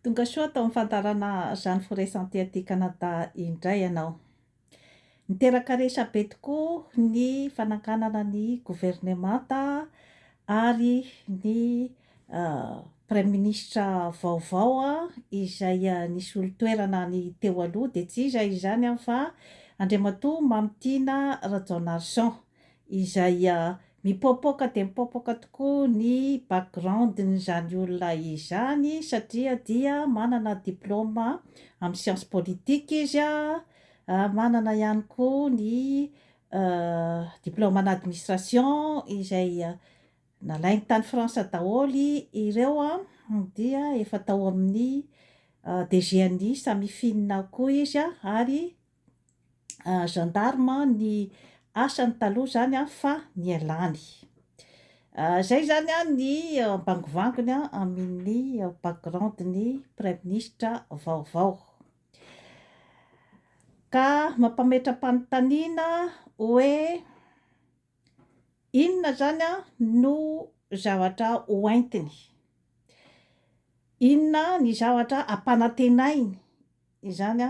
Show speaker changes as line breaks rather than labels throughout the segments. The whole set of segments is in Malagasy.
Tongasoa tao amin'ny fandaharana Jeanne Foresanté aty Canada indray ianao. Niteraka resabe tokoa ny fananganana ny governemanta ary ny praiminisitra vaovao izay nisolo toerana ny teo aloha dia tsy iza izany fa Andriamatoa Mamy Tiana Rajaonarison. izay mipaopaoka dia mipaopaoka tokoa ny background-n'izany olona izany satria dia manana diplôma amin'ny science politique izy, manana ihany koa ny diplôme en administration izay nalainy tany France daholo ireo dia efa tao amin'ny DGNI Samifinina ao koa izy ary. gendarme ny asany taloha zany fa nialany. Zay zany ny bangovangony amin'ny background ny praiminisitra vaovao. Ka mampametra-panontaniana hoe. Inona izany no zavatra hoentiny? Inona ny zavatra ampanantenainy izany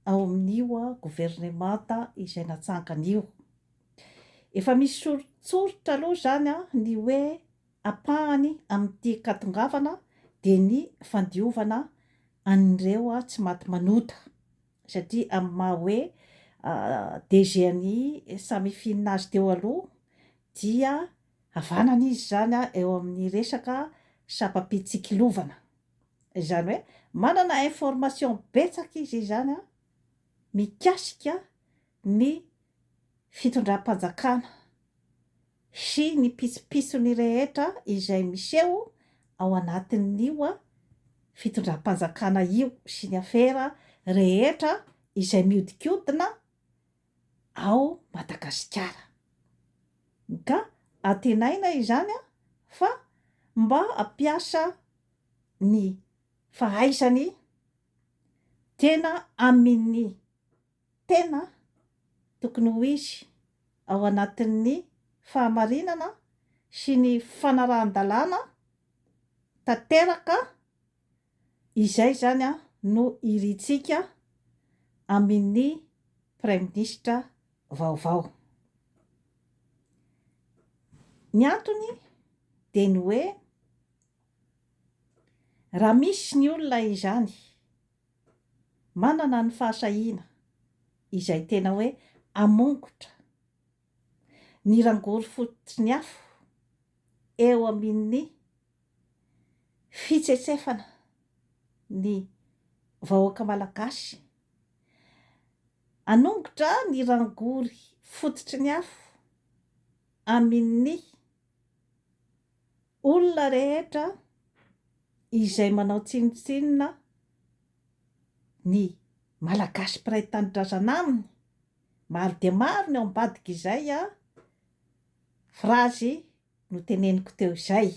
ao amin'io governemanta izay natsangana io? Efa misy soritsoritra aloha izany ny hoe ampahany amin'ity katongavana dia ny fandiovana an'ireo tsy maty manota. satria amin'ny maha hoe DG an'i Samifin azy teo aloha dia havanana izy izany eo amin'ny resaka sampam-pitsikilovana. Izany hoe manana information betsaka izy izany mikasika ny fitondram-panjakana sy ny pitsopitsony rehetra izay miseho ao anatin'io fitondram-panjakana io sy ny afera rehetra izay mihodinkodina ao Madagasikara. Ka antenaina izany fa mba hampiasa ny fahaizany tena amin'ny. Tena tokony ho izy ao anatin'ny fahamarinana sy ny fanarahan-dalàna tanteraka izay izany no irintsika amin'ny Praiminisitra vaovao. Ny antony dia ny hoe raha misy ny olona izany Manana ny fahasahiana izay tena hoe hamongotra ny rangory fototry ny afo eo amin'ny fitsetsefana ny vahoaka malagasy, hanongotra ny rangory fototry ny afo amin'ny. Olona rehetra izay manao tsinontsinona ny Malagasy mpiray tanindrazana aminy, maro dia maro ny ao ambadik'izay frazy noteneniko teo izay.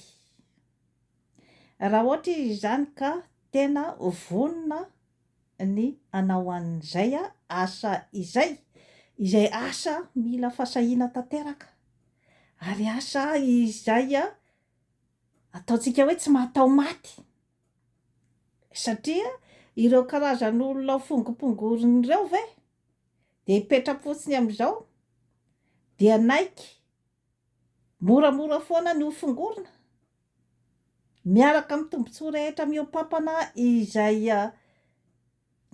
Raha ohatra izy izany ka tena vonona ny hanao an'izay asa izay, izay asa mila fasahiana tanteraka, ary asa izay ataontsika hoe tsy mahataho maty, satria ireo karazan'olona ho fongopongoriny ireo ve dia hipetra-potsiny amin'izao dia hanaiky, Moramora foana ny hofongorina, miaraka amin'ny tombontsoa rehetra mihoapampana izay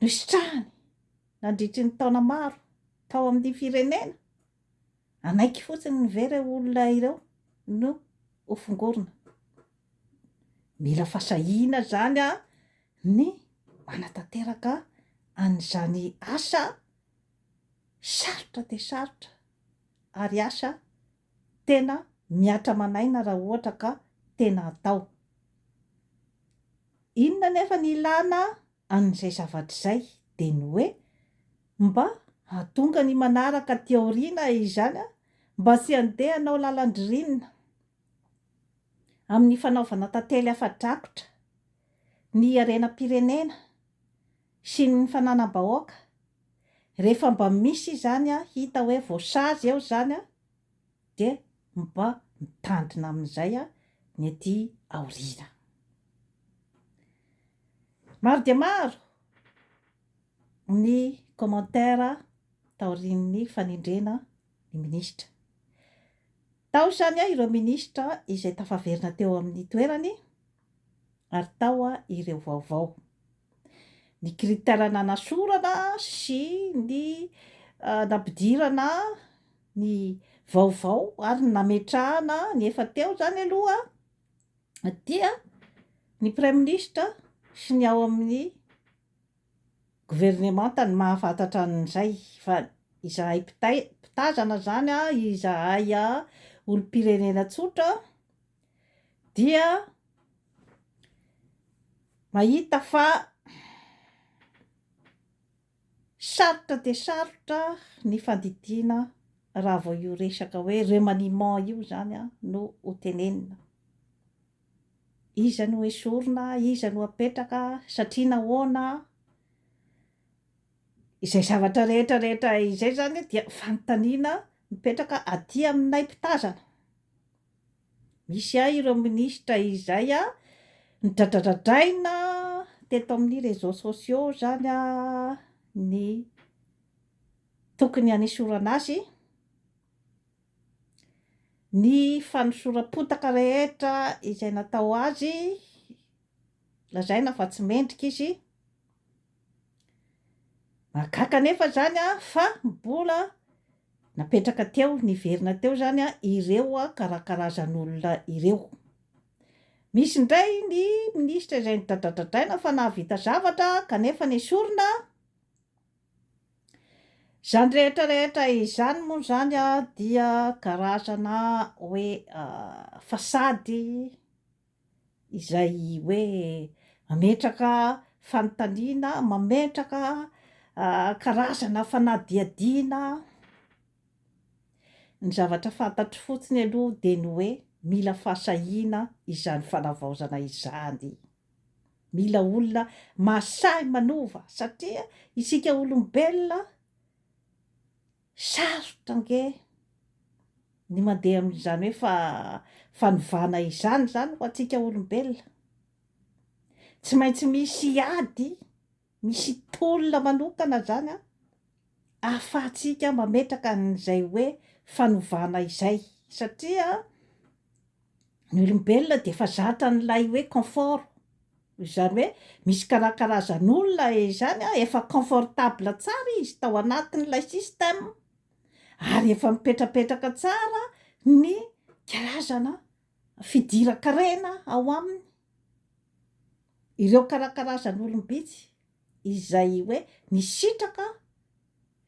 nositrahany nandritry ny taona maro tao amin'ny firenena. Hanaiky fotsiny ny ve ireo olona ireo no hofongorina? Mila fasahiana izany ny manatanteraka an'izany asa sarotra dia sarotra. ary asa tena mihatra aman'aina raha ohatra ka tena atao. Inona anefa ny ilana an'izay zavatra izay dia ny hoe mba hahatonga ny manaraka aty aoriana izany mba tsy handeha hanao lalan-dririnina amin'ny fanaovana tantely afa-drakotra ny harenam-pirenena sy ny fananam-bahoaka, rehefa mba misy izany hita hoe voasazy eo izany dia mba mitandrina amin'izay ny ety aoriana. Maro dia maro ny commentaire taorian'ny fanendrena ny minisitra. Tao izany ireo minisitra izay tafaverina teo amin'ny toerany ary tao ireo vaovao, ny critère nanasorana sy ny nampidirana ny vaovao ary ny nametrahana ny efa teo izany aloha dia ny praiminisitra sy ny ao amin'ny governemanta no mahafantatra an'izay fa izahay mpitay- mpitazana izany, izahay olom-pirenena tsotra. dia mahita fa sarotra dia sarotra ny fandidiana raha vao io resaka hoe remaniement io zany a no ho tenenina iza no esorina iza no apetraka satria nahoana izay zavatra rehetra rehetra izay zany dia fanontaniana mipetraka aty aminay mpitazana Misy ahy ireo ministra izay nidradradradraina teto amin'ny réseaux sociaux izany ny tokony hanesorana azy, ny fanosoram-potaka rehetra izay natao azy, lazaina fa tsy mendrika izy, Mahagaga anefa izany fa mbola napetraka teo, niverina teo izany ireo karakarazan'olona ireo. Misy indray ny minisitra izay nidradradradraina fa nahavita zavatra kanefa nesorina. Izany rehetra rehetra izany moa izany dia karazana hoe fasady. izay hoe mametraka fanontaniana, mametraka karazana fanadihadiana, ny zavatra fantatro fotsiny aloha dia ny hoe mila fahasahiana izany fanavaozana izany, mila olona mahasahy manova satria isika olombelona, Sarotra ange ny mandeha amin'izany hoe fa fanovana izany izany ho antsika olombelona. Tsy maintsy misy ady, misy tolona manokana izany an, ahafahantsika mametraka an'izay hoe fanovana izay satria ny olombelona dia efa zatra an'ilay hoe confort, izany hoe misy karakarazan'olona izany an, efa confortable tsara izy tao anatin'ilay système, ary efa mipetrapetraka tsara ny karazana fidiran-karena ao aminy, ireo karakarazan'olom-bitsy izay hoe nisitraka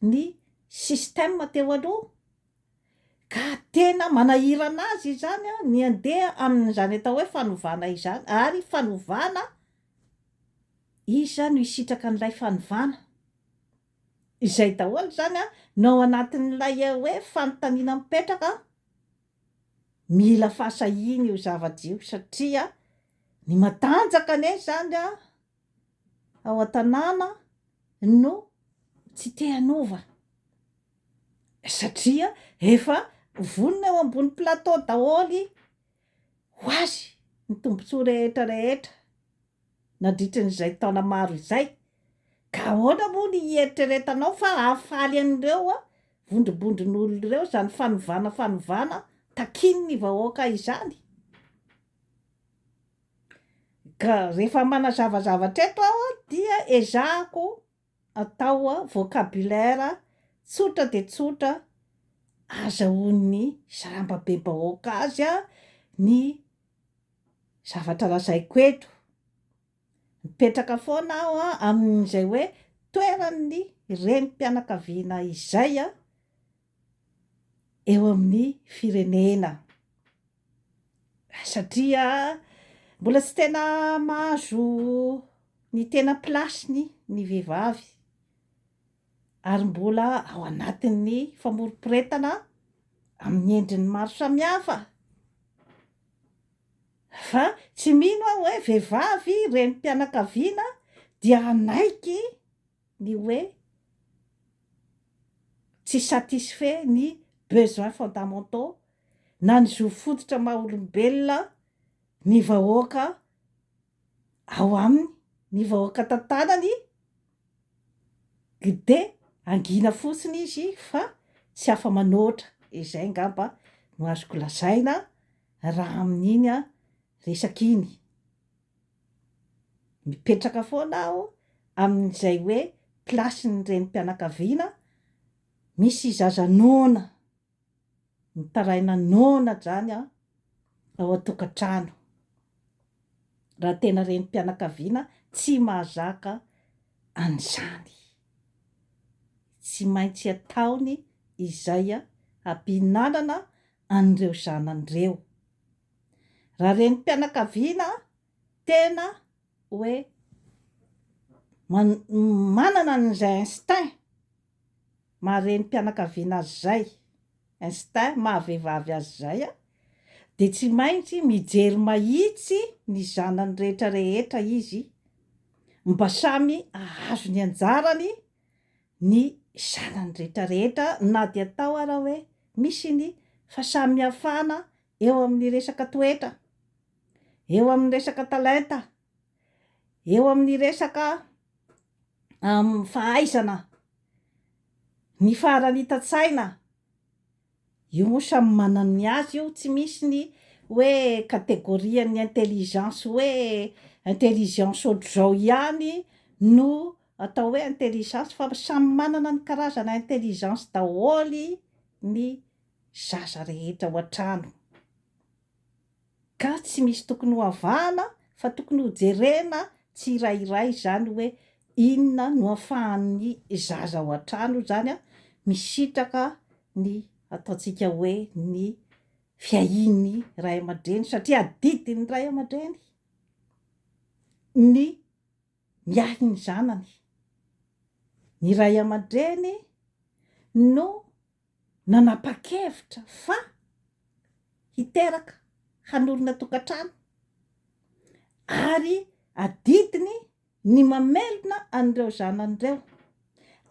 ny système teo aloha. Ka tena manahirana azy izany ny handeha amin'izany atao hoe fanovana izany, ary fanovana, iza no hisitraka an'ilay fanovana? Izay daholo izany no ao anatin'ilay hoe fanontaniana mipetraka, mila fahasahiana io zavatra io satria ny matanjaka anie izany ao an-tanàna no tsy te hanova satria efa vonona eo ambony plateau daholo ho azy ny tombontsoa rehetra rehetra nandritry ny izay taona maro izay ka ahoana moa ny hieritreretanao fa hahafaly an'ireo vondrobondron'olona ireo izany fanovana fanovana takian'ny vahoaka izany? Ka rehefa manazava zavatra eto aho dia ezahako atao vocabulaire tsotra dia tsotra azahoan'ny sarambabebahoaka azy ny zavatra lazaiko eto. Mipetraka foana aho amin'izay hoe toeran'ny renim-pianakaviana izay. eo amin'ny firenena satria mbola tsy tena mahazo ny tena place-ny ny vehivavy ary mbola ao anatin'ny famoriporetana amin'ny endriny maro samihafa fa tsy mino aho hoe vehivavy renim-pianakaviana dia hanaiky ny hoe tsy satisfait ny besoins fondamentaux na ny zo fototra maha olombelona ny vahoaka ao aminy, ny vahoaka tantanany gde hangina fotsiny izy fa tsy afa manoatra, izay ngamba no azoko lazaina raha amin'iny resaka iny. Mipetraka foana aho amin'izay hoe place ny renim-pianakaviana misy zaza noana mitaraina noana zany an ao an-tokantrano. Raha tena renim-pianakaviana tsy mahazaka an'izany. Tsy maintsy ataony izay hampihinanana an'ireo zanany ireo. Raha renim-pianakaviana tena hoe manana an'izay instinct maha renim-pianakaviana azy izay, instinct maha vehivavy azy izay, dia tsy maintsy mijery mahitsy ny zanany rehetra rehetra izy mba samy hahazo ny anjarany ny zanany rehetra rehetra na dia atao ara hoe misy ny fahasamihafana eo amin'ny resaka toetra, eo amin'ny resaka talenta, eo amin'ny resaka fahaizana, ny faharanitan-tsaina, io moa samy manana ny azy io, tsy misy ny hoe catégorie-n'ny intelligence hoe intelligence ohatr'izao ihany no atao hoe intelligence fa samy manana ny karazana intelligence daholo ny zaza rehetra ao an-trano ka tsy misy tokony ho avahana fa tokony ho jerena tsirairay izany hoe inona no afahan'ny zaza ao an-trano izany misitraka ny ataontsika hoe ny fiahian'ny ray aman-dreny satria adidin'ny ray aman-dreny ny miahy ny zanany, ny ray aman-dreny no nanapa-kevitra fa hiteraka, hanorina tokantrano ary adidiny ny mamelona an'ireo zanany ireo,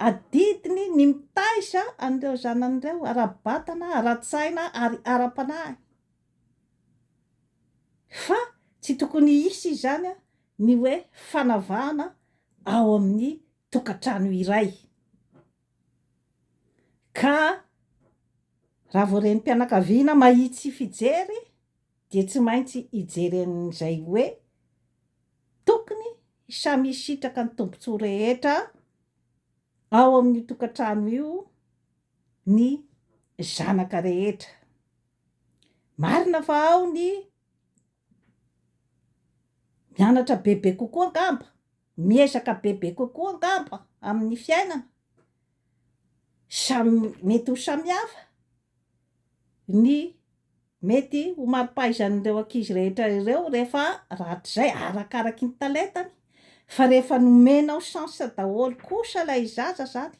adidiny ny mitaiza an'ireo zanany ireo ara-batana, ara-tsaina ary ara-panahy, fa tsy tokony hisy izany ny hoe fanavahana ao amin'ny tokantrano iray. Ka raha vao renim-pianakaviana mahitsy fijery dia tsy maintsy hijery an'izay hoe tokony samy hisitraka ny tombontsoa rehetra ao amin'io tokantrano io ny zanaka rehetra. Marina fa ao ny Mianatra bebe kokoa angamba, miezaka bebe kokoa angamba amin'ny fiainana, samy mety ho samihafa ny mety ho mari-pahaizan'ireo ankizy rehetra ireo rehefa rahatrizay, arakaraky ny talentany, fa rehefa nomenao chance daholo kosa ilay zaza zany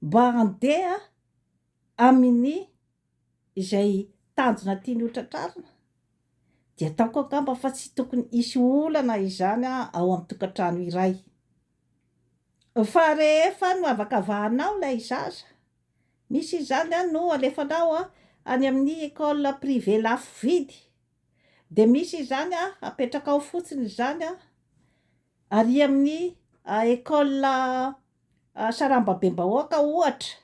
mba handeha amin'ny izay tanjona tiany hotratrarina, dia ataoko angamba fa tsy tokony hisy olana izany ao amin'ny tokantrano iray. Fa rehefa noavakavahanao ilay zaza, misy izany an, no alefanao any amin'ny école privée lafo vidy, dia misy izany an, apetrakao fotsiny izany an, ary amin'ny école sarambabem-bahoaka ohatra,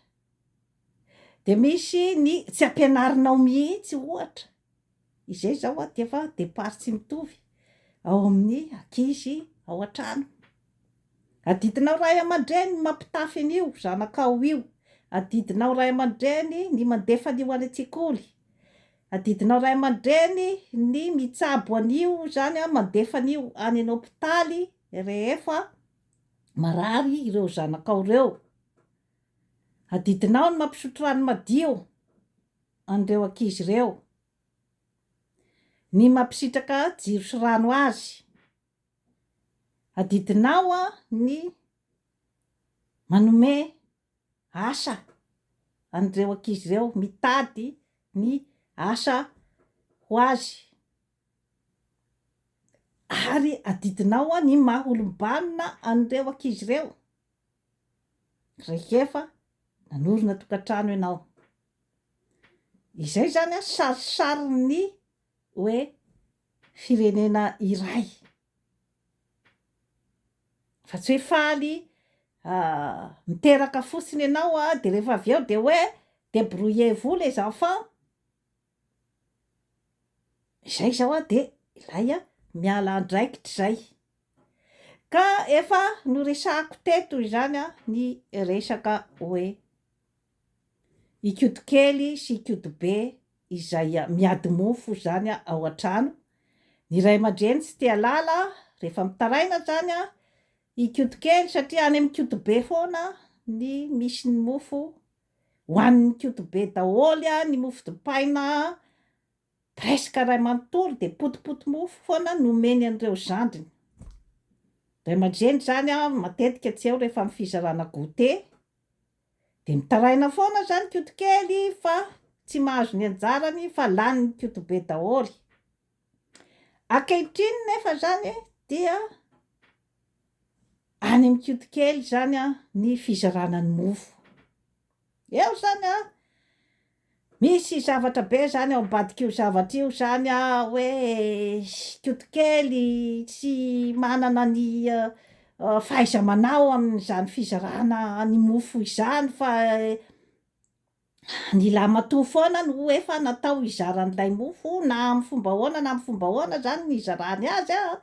Dia misy ny tsy ampianarinao mihitsy ohatra, izay izao a dia efa départ tsy mitovy ao amin'ny ankizy ao an-trano. Adidinao ray aman-dreny ny mampitafy an'io zanakao io, adidinao ray aman-dreny ny mandefa an'io any an-tsekoly, adidinao ray aman-dreny ny mitsabo an'io izany a, mandefa an'io any an' hôpitaly rehefa marary ireo zanakao ireo. Adidinao ny mampisotro rano madio an'ireo ankizy ireo, ny mampisitraka jiro sy rano azy. Adidinao ny manome asa an'ireo ankizy ireo, mitady ny asa ho azy. Ary adidinao ny maha olom-banona an'ireo ankizy ireo rehefa nanorina tokantrano ianao. Izay izany sarisarin'ny hoe firenena iray, fa tsy hoe faly miteraka fotsiny ianao dia rehefa avy eo dia hoe débrouillez-vous les enfants, Izay izao a, dia ilay a, miala andraikitra izay. Ka efa noresahako teto izany a, ny resaka hoe i koto kely sy i koto be izay miady mofo izany a ao an-trano, ny ray aman-dreny tsy te halala rehefa mitaraina izany a, i koto kely satria any amin'ny koto be foana ny misy ny mofo. Ho an'ny koto be daholo a ny mofo dipaina a! Presque iray manontolo dia potipoty mofo foana no omeny an'ireo zandriny. Ray aman-dreny izany a matetika tsy eo rehefa amin'ny fizarana goûter dia mitaraina foana aza ny koto kely fa tsy mahazo ny anjarany fa lany ny koto be daholo. Ankehitriny nefa izany dia any amin'ny kiody kely izany ny fizarana ny mofo. Eo izany an, misy zavatra be izany ao ambadik'io zavatra io izany an, hoe kiody kely tsy manana ny fahaiza-manao amin'izany fizarana ny mofo izany fa Ny lahimatoa foana no efa natao hizara an'ilay mofo na amin'ny fomba ahoana na amin'ny fomba ahoana izany ny hizarany azy an,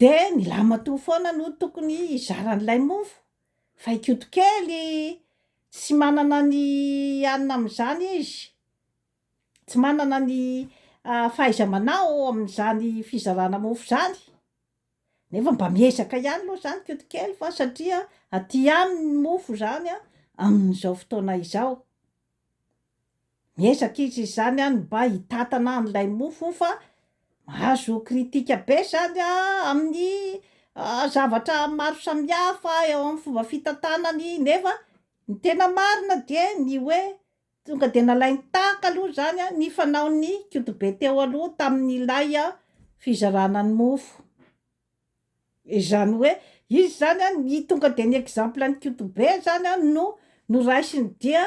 dia ny lahimatoa foana no tokony hizara an'ilay mofo fa i Koto kely tsy manana ny hanina amin'izany izy, tsy manana ny fahaiza-manao amin'izany fizarana mofo izany. Nefa mba miezaka ihany aloha izany koto kely fa satria aty aminy ny mofo izany amin'izao fotoana izao. Miezaka izy izany an mba hitantana an'ilay mofo fa mahazo critique be izany amin'ny zavatra maro samihafa eo amin'ny fomba fitantanany nefa ny tena marina dia ny hoe Tonga dia nalainy tahaka aloha izany ny fanaon'ny Kotobe teo aloha tamin'ilay fizarana ny mofo. Izany hoe izy izany ny tonga dia ny exemple ny Kotobe izany no noraisiny dia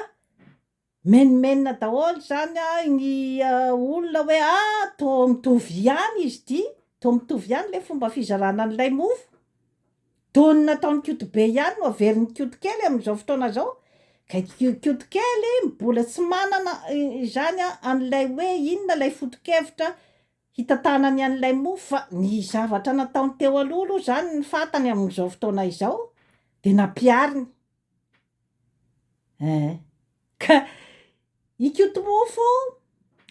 menomenona daholo izany ny olona hoe ah toa mitovy ihany izy ity, toa mitovy ihany ilay fomba fizarana an'ilay mofo. Tony nataon'i Koto be ihany no averin'i Koto kely amin'izao fotoana izao, ka i Koto kely mbola tsy manana izany an'ilay hoe inona ilay foto-kevitra hitantanany an'ilay mofo fa ny zavatra nataony teo aloha aloha izany ny fantany amin'izao fotoana izao dia nampihariny. Eh, ka i Koto Mofo,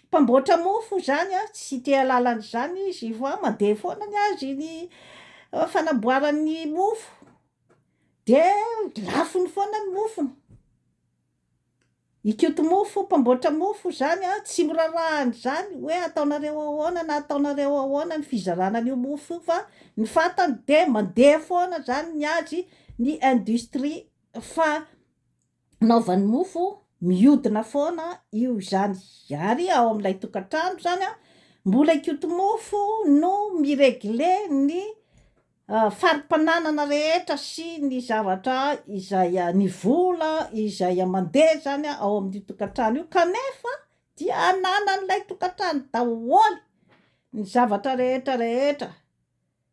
mpamboatra mofo izany an, tsy te hahalala an'izany izy fa mandeha foana ny azy ny fanamboarany ny mofo, dia lafony foana ny mofony. I Koto Mofo, mpamboatra mofo, izany an, tsy miraharaha an'izany hoe ataonareo ahoana na ataonareo ahoana ny fizarana an'io mofo io fa ny fantany dia mandeha foana izany ny azy, ny industrie fanaovany mofo mihodina foana io izany. Ary ao amin'ilay tokantrano izany an, mbola i Koto Mofo no mi-regler ny. fari-pananana rehetra sy ny zavatra izay ny vola izay mandeha izany ao amin'io tokantrano io kanefa dia ananan'ilay tokantrano daholo ny zavatra rehetra rehetra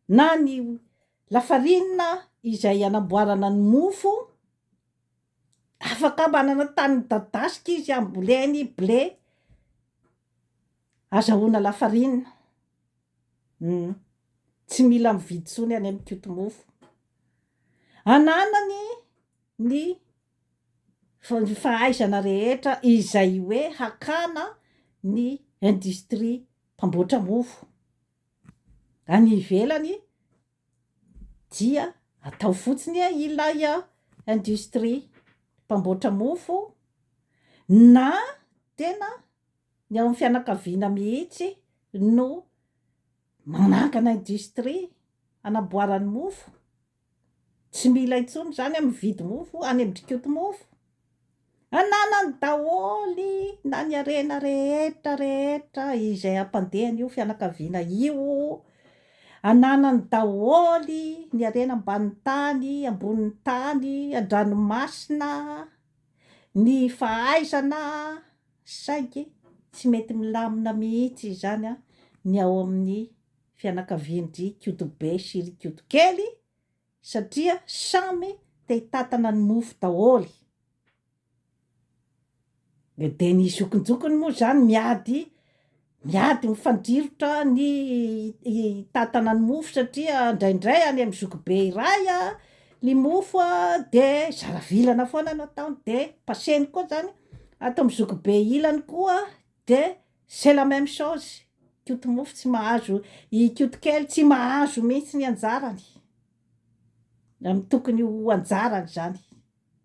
na ny lafarinina izay anamboarana ny mofo afaka manana tany midadasika izy hamboleny blé azahoana lafarinina Humm. Tsy mila mividy tsony anie mikoty mofo. Ananany ny fahaizana rehetra izay hoe hakana ny industrie mpamboatra mofo any ivelany dia atao fotsiny ilay industrie mpamboatra mofo na tena Ny ao amin'ny fianakaviana mihitsy no manangana industrie hanamboarany mofo. Tsy mila intsony izany an mividy mofo any amin'ny dikotomofo. Ananany daholo na ny harena rehetra rehetra izay hampandeha an'io fianakaviana io. Ananany daholo ny harena ambanin'ny tany, ambonin'ny tany, an-dranomasina, ny fahaizana. Saingy tsy mety milamina mihitsy izany ny ao amin'ny fianakavian-dry Kotobe sy ry Kotokely satria samy te hitantana ny mofo daholo. Dia ny zokinjokiny moa izany miady Miady mifandrirotra ny hitantana ny mofo satria indraindray any amin'ny zokibe iray ny mofo dia zara vilana foana no ataony dia passé-ny koa izany ato amin'ny zokibe ilany koa dia c'est la même chose, i Koto mofo tsy mahazo, i Koto kely tsy mahazo mihitsy ny anjarany amin'ny tokony ho anjarany izany.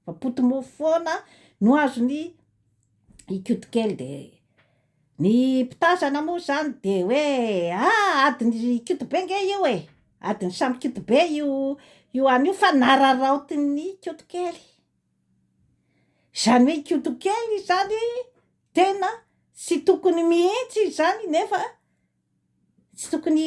Fa potimofo foana no azony ikoto kely dia ny mpitazana moa izany dia hoe ah adiny ikoto be nge io e, adiny samy ikoto be io io any io fa nararaotin'ny ikoto kely, izany hoe ikoto kely izany tena tsy tokony mihitsy izany nefa tsy tokony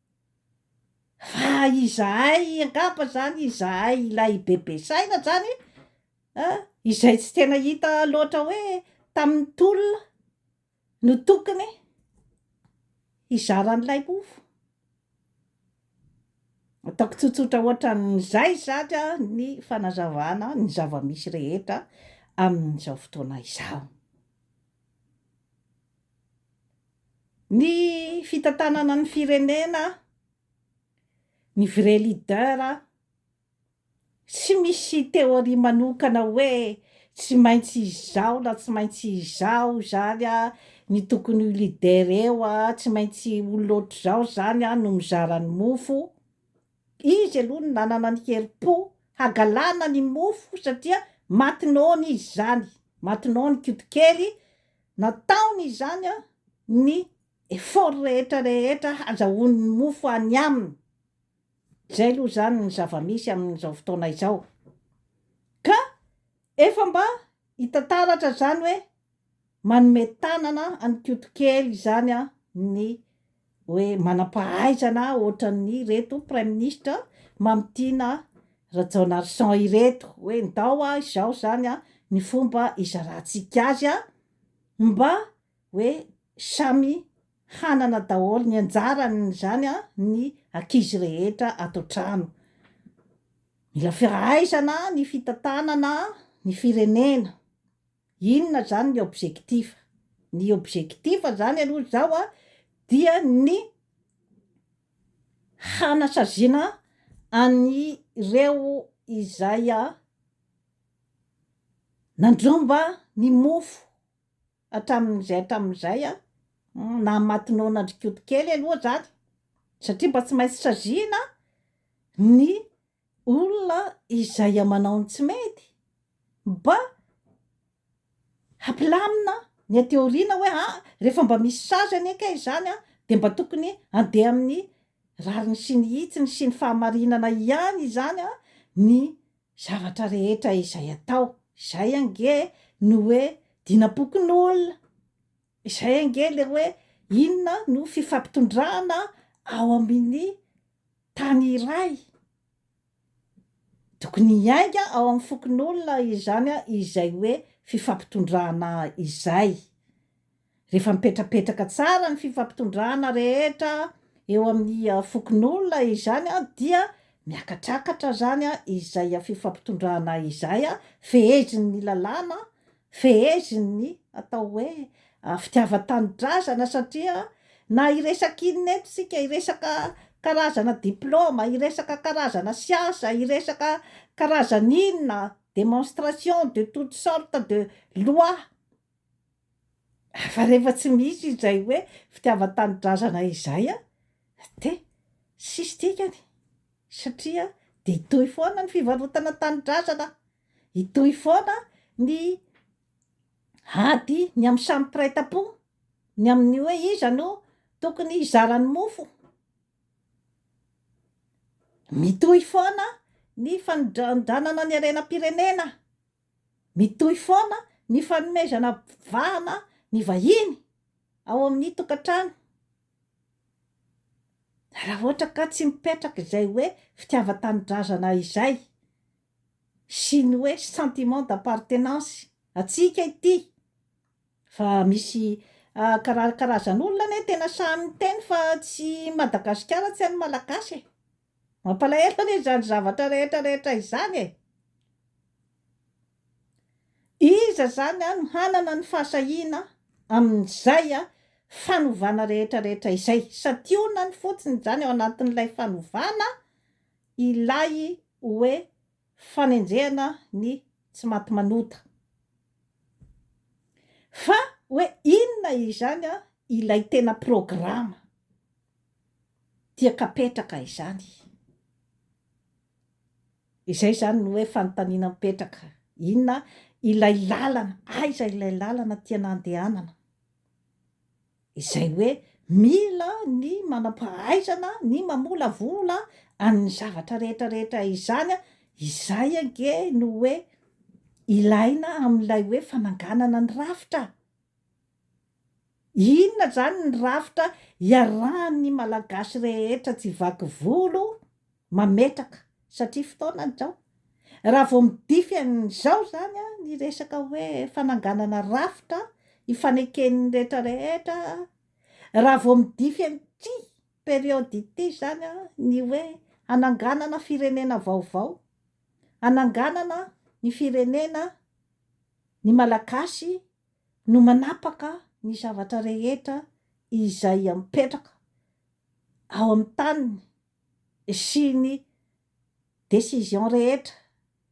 Fa izahay angamba zany, izahay ilay bebe saina zany a, izay tsy tena hita loatra hoe tamin'ny tolona no tokony hizara an'ilay mofo. Ataoko tsotsotra ohatran'izay izany a ny fanazavana ny zava-misy rehetra amin'izao fotoana izao. Ny fitantanana ny firenena, ny vrai leader a, tsy misy théorie manokana hoe tsy maintsy izao na tsy maintsy izao izany a, ny tokony ho leader eo a, tsy maintsy olona ohatr'izao izany a no mizara ny mofo, Izy aloha no nanana ny herim-po hagalana ny mofo satria maty noana izy izany, maty noana i Koto kely, nataony izany ny effort rehetra rehetra hazahoany ny mofo any aminy, izay aloha izany ny zava-misy amin'izao fotoana izao, ka efa mba hita taratra izany hoe manome tanana an'i Koto kely izany ny hoe manam-pahaizana ohatran'ireto praiminisitra Mamitiana Rajaonarison ireto hoe ndao izao izany ny fomba hizarantsika azy mba hoe samy hanana daholo ny anjarany izany ny ankizy rehetra ato an-trano. Mila fahaizana ny fitantanana ny firenena. Inona zany ny objectif? Ny objectif zany aloha zao a dia ny hanasaziana an'ireo izay nanjomba ny mofo hatramin'izay hatramin'izay a, nahamaty noana an-dry Koto kely aloha zany satria mba tsy maintsy saziana ny olona izay amanao ny tsy mety mba hampilamina ny aty aoriana hoe aa rehefa mba misy sazy anie kay izany an dia mba tokony handeha amin'ny rariny sy ny hitsiny sy ny fahamarinana ihany izany an ny zavatra rehetra izay atao, izay ange no hoe dinam-pokonolona. Izay ange ilay hoe inona no fifampitondrana ao amin'ny tany iray. Tokony hiainga ao amin'ny fokonolona izany izay hoe fifampitondrana izay. Rehefa mipetrapetraka tsara ny fifampitondrana rehetra eo amin'ny fokonolona izany dia miakatrakatra izany izay fifampitondrana izay, fehezin'ny lalàna, Feheziny ny atao hoe fitiavan-tanindrazana satria na hiresaka inona eto isika, hiresaka karazana diplôma, hiresaka karazana siasa, hiresaka karazana inona, démonstration de toute sorte de loi, fa rehefa tsy misy izay hoe fitiavan-tanindrazana izay dia tsisy dikany satria dia hitohy foana ny fivarotana tanindrazana. Hitohy foana ny ady ny amin'ny samy mpiray tampo ny amin'ny hoe iza no tokony hizara ny mofo. Mitohy foana ny fanondranondranana ny harenam-pirenena. Mitohy foana ny fanomezana vahana ny vahiny ao amin'ny tokantrano. Raha ohatra ka tsy mipetraka izay hoe fitiavan-tanindrazana izay, sy ny hoe sentiment d'appartenance antsika ity fa misy kara- karazan'olona anie tena sahy miteny fa tsy Madagasikara tsy an'ny Malagasy e! mampalahelo anie izany zavatra rehetra rehetra izany e! iza izany an no hanana ny fahasahiana amin'izay fanovana rehetra rehetra izay? santionany fotsiny izany ao anatin'ilay fanovana Ilay hoe fanenjehana ny tsy maty manota. Fa hoe inona izany ilay tena programa diakapetraka izany? Izay izany no hoe fanontaniana mipetraka. Inona ilay lalana? Aiza ilay lalana tiana handehanana? izay hoe mila ny manam-pahaizana ny mamolavola an'ny zavatra rehetra rehetra izany, izay ange no hoe ilaina amin'ilay hoe fananganana ny rafitra. Inona izany ny rafitra iarahan'ny Malagasy rehetra tsy vaky volo? Mametraka, satria fotoana izao. Raha vao midify an'izao izany ny resaka hoe fananganana rafitra ifaneken'ny rehetra rehetra, raha vao midify an'ity période ity izany ny hoe hananganana firenena vaovao, hananganana ny firenena, ny Malagasy no manapaka ny zavatra rehetra izay apetraka ao amin'ny taniny. sy ny décision rehetra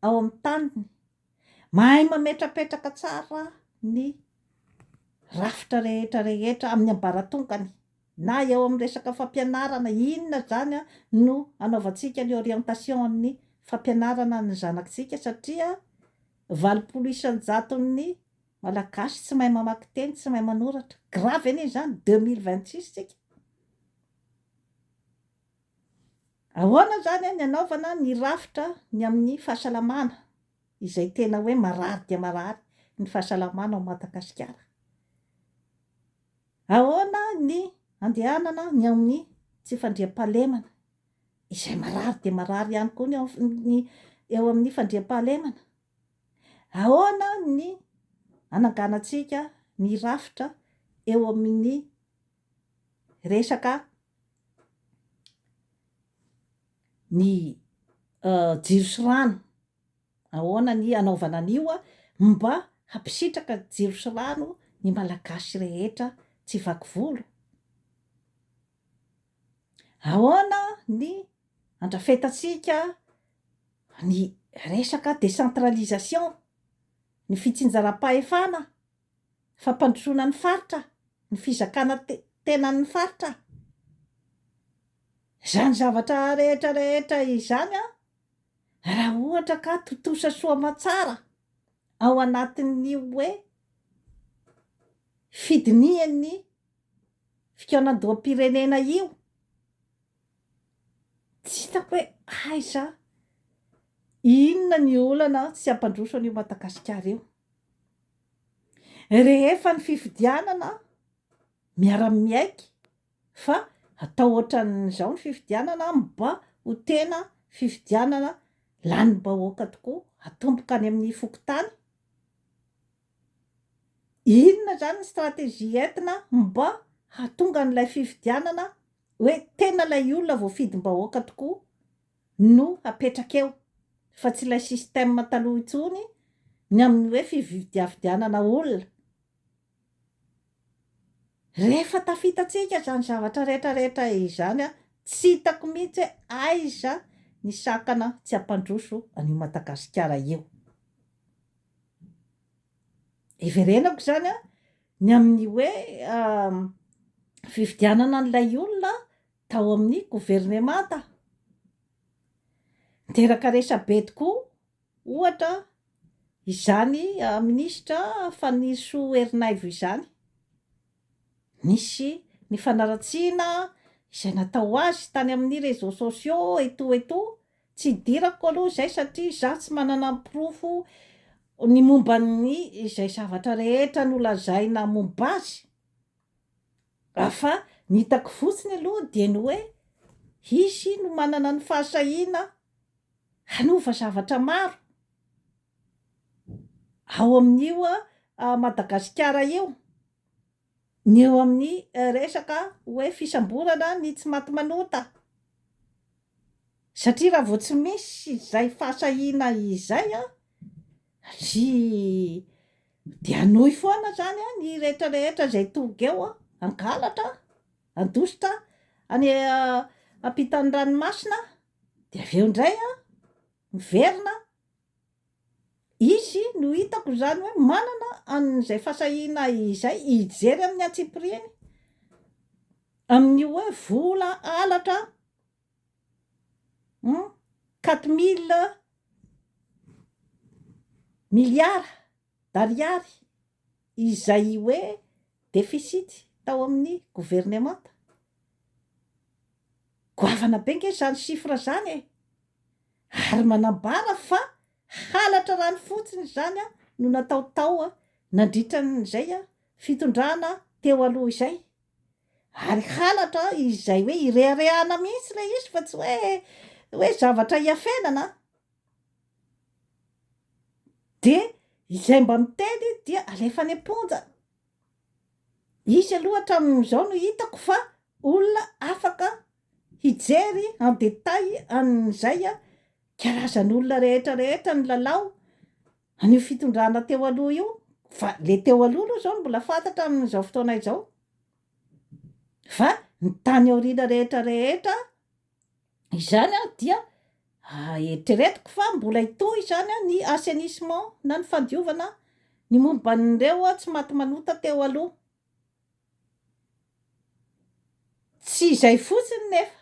ao amin'ny taniny, mahay mametrapetraka tsara ny rafitra rehetra rehetra amin'ny ambaratongany na eo amin'ny resaka fampianarana inona zany no anaovantsika ny orientation an'ny fampianarana an'ny zanakitsika satria valopolo isanjaton'ny malagasy tsy mahay mamaky teny, tsy mahay manoratra, grave anie izany deux mille vingt six tsika. Ahoana izany ny hanaovana ny rafitra ny amin'ny fahasalamana izay tena hoe marary dia marary ny fahasalamana ao Madagasikara? Ahoana ny handehanana ny ao amin'ny tsy fandriampahalemana izay marary dia marary ihany koa ny amin'ny eo amin'ny fandriampahalemana? Ahoana ny hananganantsika ny rafitra eo amin'ny resaka ny jiro sy rano, ahoana ny hanaovana an'io mba hampisitraka jiro sy rano ny Malagasy rehetra tsy vaky volo? Ahoana ny handrafetantsika ny resaka décentralisation, ny fitsinjaram-pahefana? fampandrosoana ny faritra, ny fizakana tenan'ny faritra. Izany zavatra rehetra rehetra izany raha ohatra ka tontosa soa aman-tsara ao anatin'ny hoe fidinihan'ny fikaonandoham-pirenena io, tsy hitako hoe aiza, inona ny olana tsy hampandroso an'io Madagasikara io. Rehefa ny fifidianana miara-miaiky fa atao ohatran'izao ny fifidianana mba ho tena fifidianana lanim-bahoaka tokoa atomboka any amin'ny fokontany? Inona izany ny stratégie entina mba hahatonga an'ilay fifidianana hoe tena ilay olona voafidim-bahoaka tokoa no hapetraka eo fa tsy ilay système taloha intsony ny amin'ny hoe fividiavidianana olona. Rehefa tafitantsika izany zavatra rehetra rehetra izany tsy hitako mihitsy hoe aiza ny sakana tsy hampandroso an'io Madagasikara io. Hiverenako izany ny amin'ny hoe fividianana an'ilay olona tao amin'ny governemanta niteraka resabe tokoa ohatra izany minisitra Fanirisoa Erinaivo izany, nisy ny fanaratsiana izay natao azy tany amin'ny réseaux sociaux etoa etoa, tsy hidirako aloha izay satria izaho tsy manana ny porofo ny momba ny izay zavatra rehetra nolazaina momba azy. Raha fa ny hitako fotsiny aloha dia ny hoe hisy no manana ny fahasahiana hanova zavatra maro ao amin'io Madagasikara io, ny eo amin'ny resaka hoe fisamborana ny tsy maty manota, satria raha vao tsy misy izay fahasahiana izay an, ry Dia hanohy foana izany ny rehetra rehetra izay tonga eo hangalatra, handositra any ampitan'ny ranomasina, dia avy eo indray miverina, izy no hitako izany hoe manana an'izay fahasahiana izay hijery amin'ny antsipiriany, amin'ny hoe vola halatra, Hum quatre mille milliards d'ariary izay hoe deficit tao amin'ny governemanta. Goavana be ange izany chiffre izany e! Ary manambara fa halatra rano fotsiny izany no natao tao nandritra an'izay fitondrana teo aloha izay. Ary halatra izay hoe ireharehana mihitsy ilay izy fa tsy hoe hoe zavatra hiafenana an! Dia izay mba miteny dia alefa any am-ponja. Izy aloha hatramin'izao no hitako fa olona afaka hijery en détail an'izay karazan'olona rehetra rehetra ny lalao. An'io fitondrana teo aloha io, fa le teo aloha aloha zao no mbola fantatra amin'izao fotoana izao, fa ny tany aoriana rehetra rehetra izany an dia eritreretiko fa mbola hitohy izany an ny assainissement na ny fandiovana ny momba an'ireo tsy maty manota teo aloha. Tsy izay fotsiny nefa.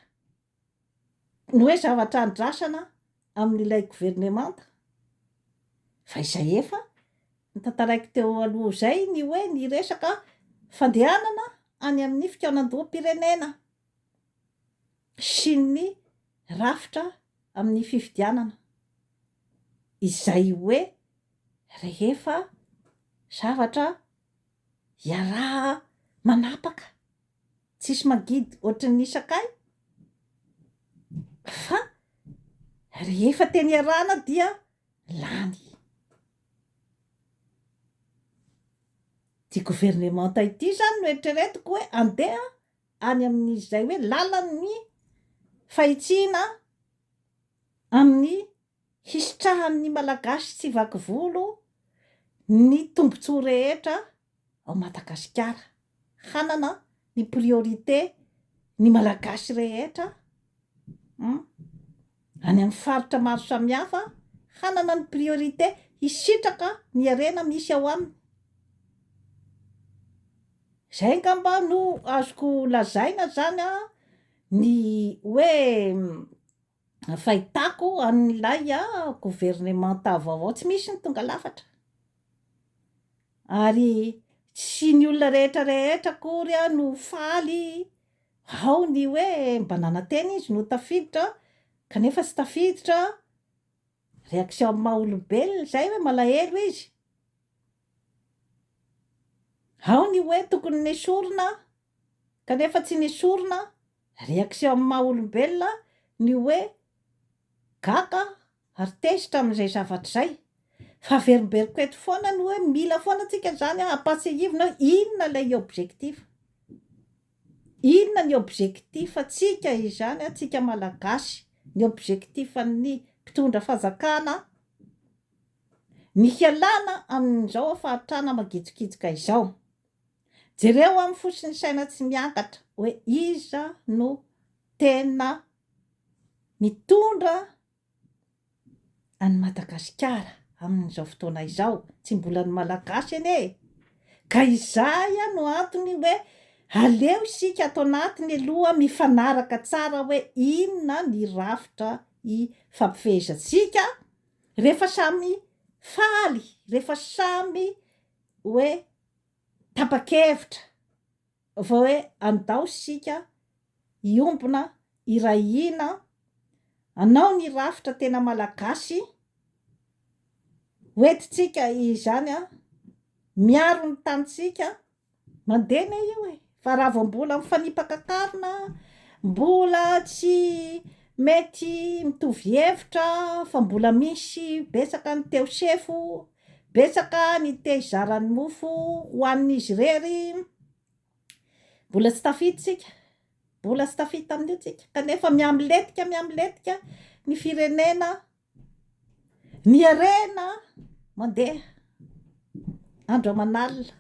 ny hoe zavatra andrasana amin'ilay governemanta fa izay efa notantaraiko teo aloha izay ny hoe ny resaka fandehanana any amin'ny fikaonandoham-pirenena sy ny rafitra amin'ny fifidianana izay hoe rehefa zavatra iaraha-manapaka Tsisy magidy ohatry ny sakay fa rehefa teny iarahana dia lany. Ity governemanta ity zany no eritreretiko hoe andeha any amin'izay hoe lalan'ny fahitsiana amin'ny hisitrahan'ny Malagasy tsy vaky volo ny tombontsoa rehetra ao Madagasikara, hanana ny priorité ny Malagasy rehetra an, any amin'ny faritra maro samihafa hanana ny priorité hisitraka ny harena misy ao aminy. Izay angamba no azoko lazaina izany an, ny hoe. fahitako an'ilay governemanta vaovao, tsy misy ny tonga lafatra, ary tsy ny olona rehetra rehetra akory no faly, ao ny hoe mba nanantena izy no tafiditra kanefa tsy tafiditra, reaction amin'ny maha olobelona izay hoe malahelo izy, ao ny hoe tokony nesorina Kanefa tsy nesorina, réaction amin'ny maha olombelona, ny hoe gaga ary tezitra amin'izay zavatra izay. Fa averimberiko eto foana ny hoe mila foana antsika izany hampatsiahivina hoe inona ilay objectif. Inona ny objectif antsika izany antsika Malagasy, ny objectif an'ny mpitondra fanjakana, ny hialana amin'izao fahatrana mangitsokitsoka izao. Jereo amin'ny fo sy ny saina tsy miangatra hoe iza no tena mitondra an'i Madagasikara amin'izao fotoana izao. Tsy mbola ny Malagasy anie e! Ka izay no antony hoe aleo isika ato anatiny aloha mifanaraka tsara hoe inona ny rafitra ifampifehezantsika rehefa samy faly, rehefa samy hoe tapa-kevitra vao hoe andao isika hiombona, hiray hina, hanao ny rafitra tena malagasy hoentintsika izany miaro ny tanintsika, mandeha anie io e! Fa raha vao mbola mifanipaka karina, mbola tsy mety mitovy hevitra, fa mbola misy betsaka ny te-ho sefo, betsaka ny te-hizara ny mofo ho an'izy irery, mbola tsy tafita isika, mbola tsy tafita amin'io isika, kanefa mihamilentika, mihamilentika ny firenena. Ny harena mandeha andro aman'alina,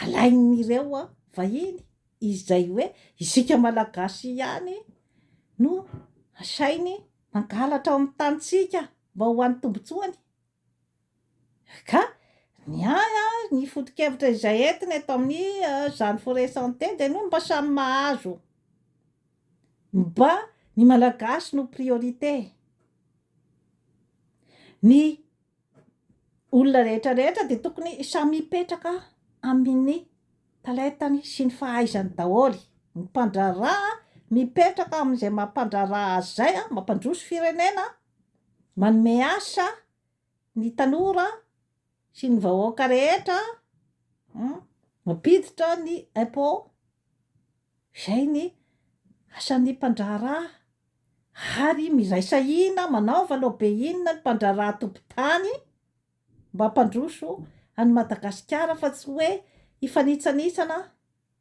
alain'ireo vahiny izay hoe isika Malagasy ihany no asainy mangalatra ao amin'ny tanintsika mba ho an'ny tombontsoany. Ka ny ahy an, ny foto-kevitra izay entina eto amin'ny izany forêt santé dia ny mba samy mahazo, mba ny Malagasy no priorité, ny olona rehetra rehetra dia tokony samy hipetraka amin'ny palette-ny sy ny fahaizany daholo, ny mpandraharaha mipetraka amin'izay maha mpandraharaha azy izay, mampandroso firenena, Manome asa ny tanora sy ny vahoaka rehetra mampiditra ny impôt, izay ny asan'ny mpandraharaha ary miraisa hina manaova lobe inona ny mpandraharaha tompon-tany mba hampandroso an'i Madagasikara fa tsy hoe hifanitsanitsana.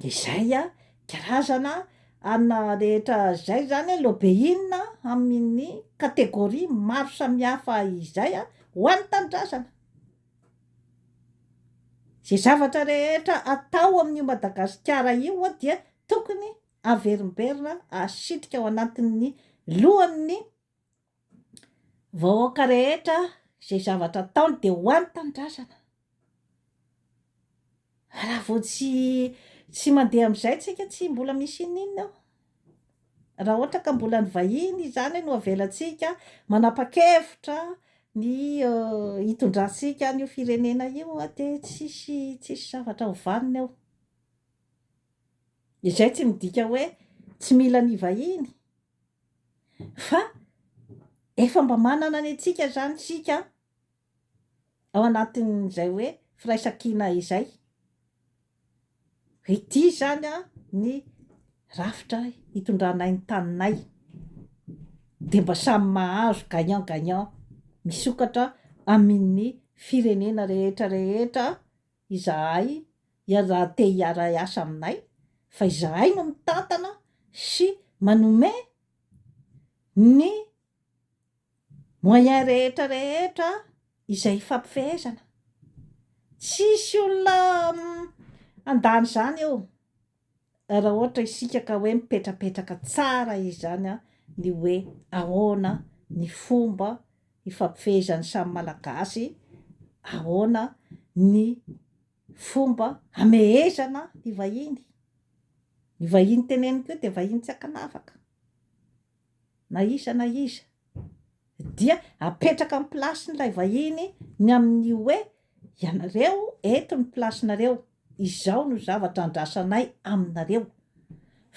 De zay a, karazana ana rehetra zay zany a lobeina amin'ny catégorie maro samihafa izay a ho an'ny tanindrazana, ze zavatra rehetra atao amin'io Madagasikara io a dia tokony averimberina asitrika ao anatin'ny lohan'ny. Vahoaka rehetra izay zavatra ataony dia ho any tanindrazana. Raha vao tsy tsy mandeha amin'izay tsika tsy mbola misy ininona eo. Raha ohatra ka mbola ny vahiny izany no avelantsika manapa-kevitra ny hitondrantsika an'io firenena io dia tsisy tsisy zavatra ho vanona eo. Izay tsy midika hoe tsy mila ny vahiny. Fa efa mba manana ny antsika izany isika an, ao anatin'izay hoe firaisankina izay. Ity izany an ny rafitra hitondranay ny taninay. Dia mba samy mahazo gagnant gagnant misokatra amin'ny firenena rehetra rehetra. Izahay ihany raha te hiara-hiasa aminay fa izahay no mitantana sy manome ny moyens rehetra rehetra izay hifampifehezana. Tsisy olona handany izany eo. Raha ohatra isika ka hoe mipetrapetraka tsara izany ny hoe ahoana ny fomba hifampifehezan'ny samy Malagasy, ahoana ny fomba hamehezana ny vahiny, ny vahiny teneniko io dia vahiny tsy ankanavaka. na iza na iza dia apetraka amin'ny plasin'ilay vahiny ny amin'ny hoe, ianareo eto ny plasinareo, izao no zavatra andrasanay aminareo,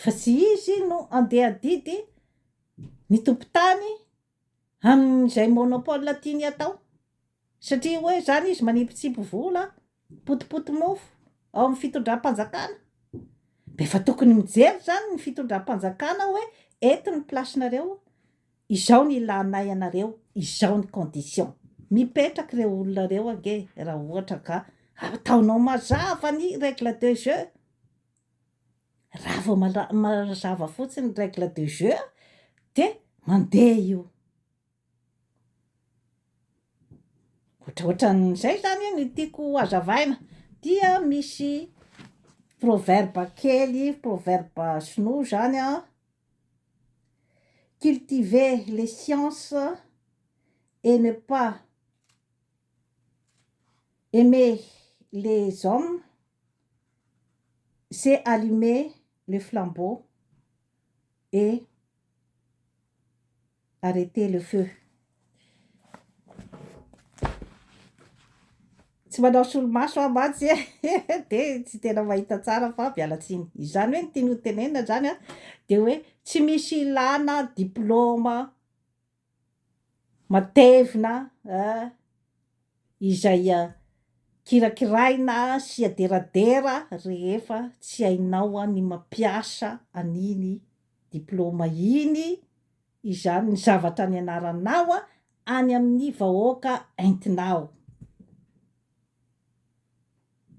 fa tsy izy no andeha adidy ny tompon-tany amin'izay monopole tiany atao. Satria hoe izany izy manipitsipy vola, potipoty mofo ao amin'ny fitondram-panjakana. Dia efa tokony mijery izany ny fitondram-panjakana hoe eto ny place-nareo, izao ny ilanay anareo, izao ny condition. Mipetraka ireo olona ireo ange raha ohatra ka ataonao mazava ny règle de jeu. Raha vao mazava fotsiny ny règle de jeu dia mandeha io. Ohatraohatran'izay izany no tiako ho hazavaina, dia misy proverbe kely, proverbe sinoa izany an, cultiver les sciences et ne pas aimer les hommes c'est allumer le flambeau et arreter le feu. Tsy manao solomaso aho mantsy e, dia tsy tena mahita tsara fa miala tsiny. Izany hoe ny tiany hotenenina izany dia hoe tsy misy ilàna diplaoma. Matevina eh! Izay kirakiraina sy aderadera rehefa tsy hainao ny mampiasa an'iny diplaoma iny izany ny zavatra nianaranao any amin'ny vahoaka entinao.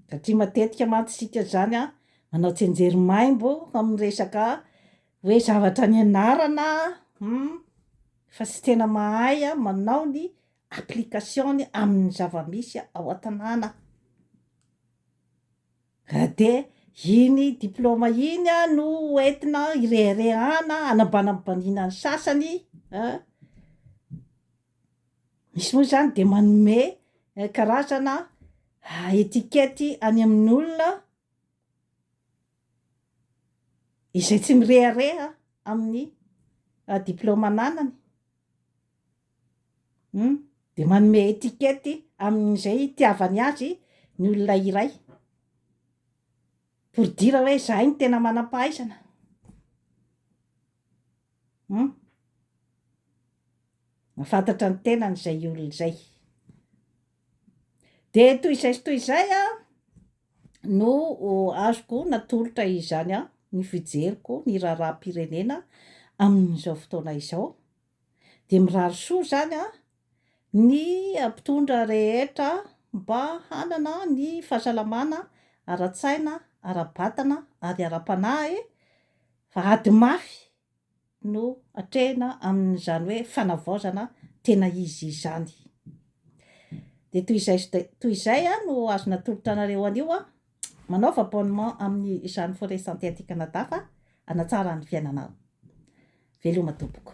Satria matetika mantsy isika izany a, manao tsianjery maimbo amin'ny resaka hoe zavatra nianarana hum, fa tsy tena mahay manao ny application-ny amin'ny zava-misy ao an-tanàna. Raha dia iny diplaoma iny no hoentina ireharehana, hanambanambaniana ny sasany a. Misy moa izany de manome karazana etiquette any amin'ny olona izay tsy mirehareha amin'ny diplaoma ananany, um de manome etiquette amin'izay hitiavany azy ny olona iray, pour dire hoe izahay no tena manam-pahaizana. Hum. Mahafantatra ny tenany izay olona izay. Dia toy izay sy toy izay no azoko natolotra izany ny fijeriko ny raharaham-pirenena amin'izao fotoana izao. Dia mirary soa izany ny mpitondra rehetra mba hanana ny fahasalamana ara-tsaina, ara-batana ary ara-panahy fa ady mafy no atrehina amin'izany hoe fanavaozana tena izy izany. Dia toy izay toy izay no azo natolotra anareo anio aho. Manaova abonnement amin'ny izany Forest Santé aty Canada fa hanatsara ny fiainanao. Veloma tompoko.